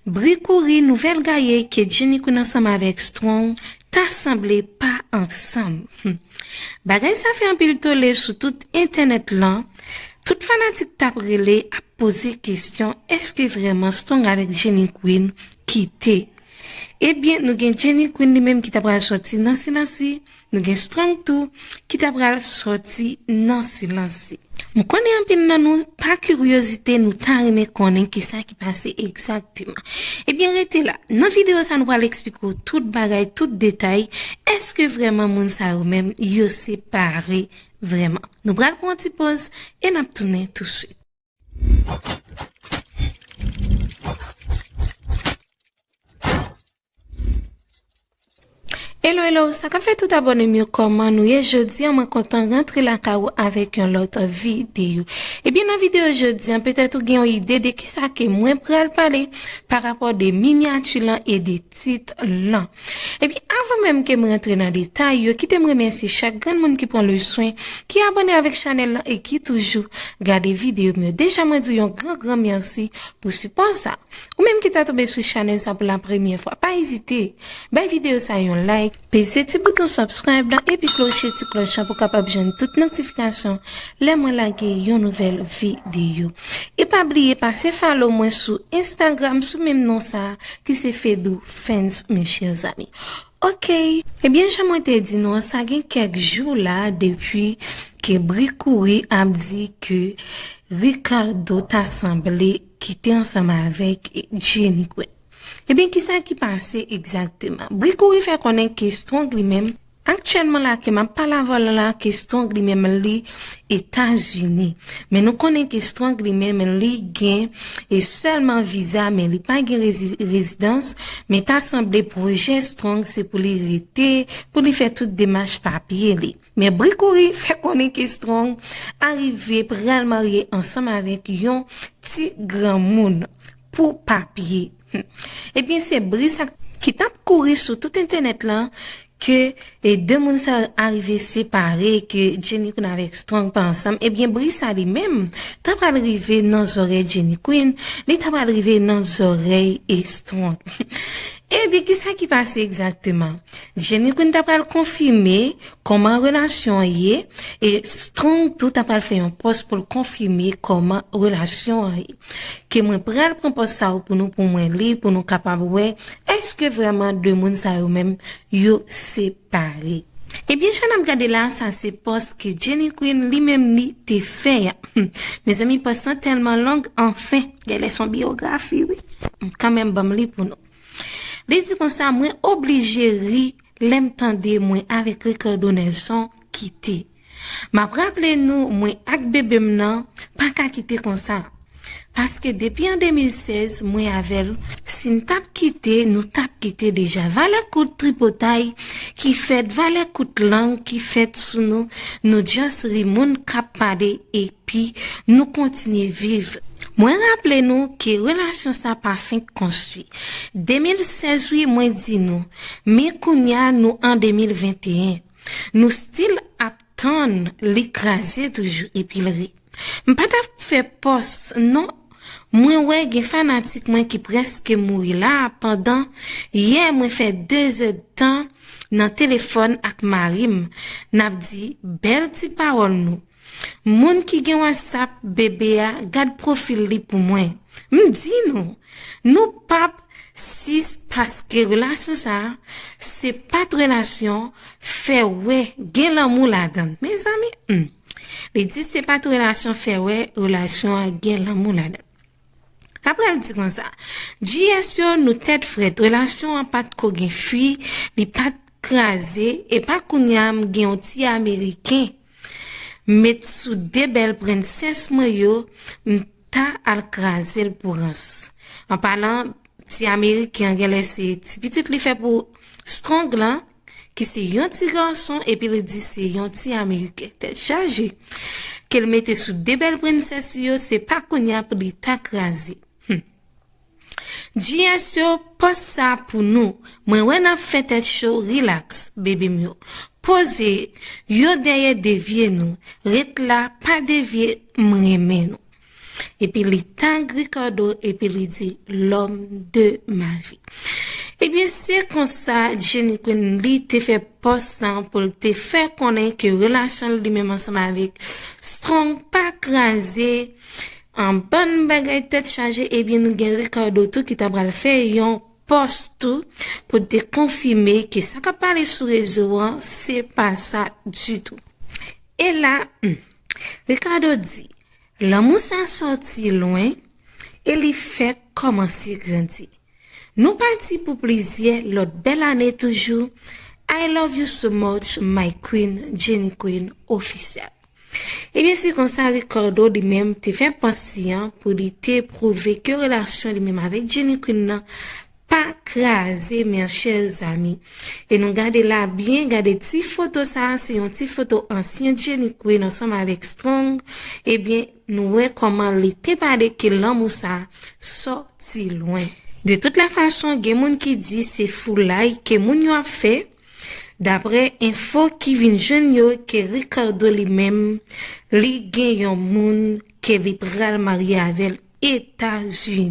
Bri kouri nouvèl gaye ke Jenny Queen ansanm avèk Strong ta sanble pa ansanm. Hum. Bagay sa fè anpil tole sou tout entènèt lan, tout fanatik tap rele ap poze kesyon eske vrèman Strong avèk Jenny Queen kite. Ebyen nou gen Jenny Queen li menm ki ta pral sòti nan silansi Nou gen strong tou ki ta pral soti nan silans li. M konnen anpil nan nou, pa kiryozite nou ta renmen konnen kisa ki pase egzakteman. Ebyen rete la, nan videyo sa nou pral eksplike w tout bagay, tout detay, èske vrèman moun sa yo menm yo separe vrèman. Nou pral pran yon ti poz e n ap tounen touswit. Hello hello, sa ka fè tout abone m yo kòman nou ye jodi an mwen kontan rantre la ka ou avèk yon lòt videyo. Ebyen nan videyo jodi an petèt ou gen yon ide de kisa ke mwen pral pale pa rapò de minyati lan e de tit lan. Epi avan menm ke m rantre nan detay yo kite m remèsye chak grenn moun ki pran leswen ki abòne avèk chanèl lan e ki toujou gade videyo m yo deja mwen di w yon gran gran mèsi pou sipò sa ou menm ki ta tonbe sou chanèl sa pou la premyè fwa pa ezite bay videyo sa yon like peze ti bouton subscribe lan epi kloche ti klòch lan pou kapab jwenn tout notifikasyon lè mwen lage yon nouvèl videyo e pa bliye pase follow mwen sou Instagram sou menm non sa ki se Fedou. fans mes chers amis ok ebyen jan mwen te di nou an sa gen kèk jou la depi ke bri kouri ap di ke Ricardo ta sanble ki te ansanm avèk Jenny Queen ebyen kisa ki pase egzakteman bri kouri fè konnen ke Strong li menm Aktyèlman la ke map pale avè w la la ke strong li menm li etazini men nou konnen ke strong li menm li gen e sèlman viza men li pa gen rezidans men ta sanble pwojè strong se pou li rete pou li fè tout demach papye li men bri kouri fè konnen ke strong arive pral marye ansanm avèk yon ti granmoun pou papye. Ebyen se bri sa ki tap kouri sou tout entenet lan ke 2 moun sa yo arive separe ke Jenny Queen avek Strong pa ansanm ebyen bri sa li menm ta pral rive nan zorey Jenny Queen li ta pral rive nan zorey Strong. Ebyen ki sa ki pase egzakteman? Jenny Queen ta pral konfime koman relasyon an ye e Strong tou ta pral fè yon pos poul konfime koman relasyon an ye. Ke mwen pral pran pòs sa yo pou nou pou mwen li pou nou kapab wè eske vrèman 2 moun sa yo menm yo separe. Ebyen sa nap gade la sa se pòs ke Jenny Queen li menm li te fè a humm mezanmi pòs lan tèlman long anfen gèlè son biyografi wi m kanmenm banm li pou nou li di konsa mwen oblije ri lèm tande mwen avèk Ricardo Nelson kite Map raple nou mwen ak bebe m nan pa ka kite konsa paske depi an 2016 mwen avè l si n tap kite nou tap kite deja valè kout tripotay ki fèt valè kout lang ki fèt sou nou nou just ri moun kap pale epi nou kontinye viv mwen raple nou ke relasyon sa pa fenk konstwi 2016 wi mwen di nou men kounya nou an 2021. Nou still ap tann li kraze toujou epil ri. M pa tap fè pòs non mwen wè gen fanatik mwen ki prèske mouri la pandan yè mwen fè 2 zè dtan nan telefòn ak marim nap di bèl ti pawòl nou Moun ki gen wasap BB a gad profil li pou mwen m di nou nou pap sis paske relasyon sa se pat relasyon fè wè gen lanmou ladann mezanmi humm li di se pat relasyon fè wè relasyon an gen lanmou ladann aprè l di konsa GS yo nou tèt frèt relasyon an pat ko gen fwi li pat kraze epa kounya m gen yon ti ameriken Met sou de bèl prensès mwen yo m ta al kraze l pou rans An palan ti ameriken an genlè se ti pitit li fè pou Strong lan ki se yon ti gason epi l di se yon ti ameriken tèt chaje ke l mete sou de bèl prensès yo se pa kounya pou li ta kraze Hum GS yo post sa pou nou. Mwen wè nap fè tèt cho relax baby m yo poze yo dèyè devye nou ret la pa devye m renmen nou epi li tag Ricardo epi li di lòm de ma vi ebyen se konsa Jenny Queen li te fè pòs sa pou l te fè konnen ke relasyon l li menm ansanm avèk Strong pa kraze. An bann bagay tèt chaje ebyen nou gen Ricardo tou ki ta pral fè yon pòs tou pou l te konfime ke sa kap pale sou rezo an se pa sa ditou. E la humm. Ricardo di, lanmou sa sòti lwen e li fèk kòmanse grandi. Nou pati pou plizyè lòt bèl ane toujou I love you so much my queen Jenny Queen Officielle. Ebyen se konsa Ricardo li menm te fè pòs li an pou li te pwouve ke relasyon li menm avèk Jenny Queen nan pa kraze mèr chèr zami e nou gade la byen gade ti foto sa se yon ti foto ansyen Jenny Queen ansanm avèk Strong ebyen nou wè kòman li te pale ke lanmou sa sòti lwen. De tout lè fason gen moun ki di se foulay ke moun yo ap fè. Daprè enfo ki vin jwenn yo ke Ricardo li menm li gen yon moun ke li pral marye avèl Etazini.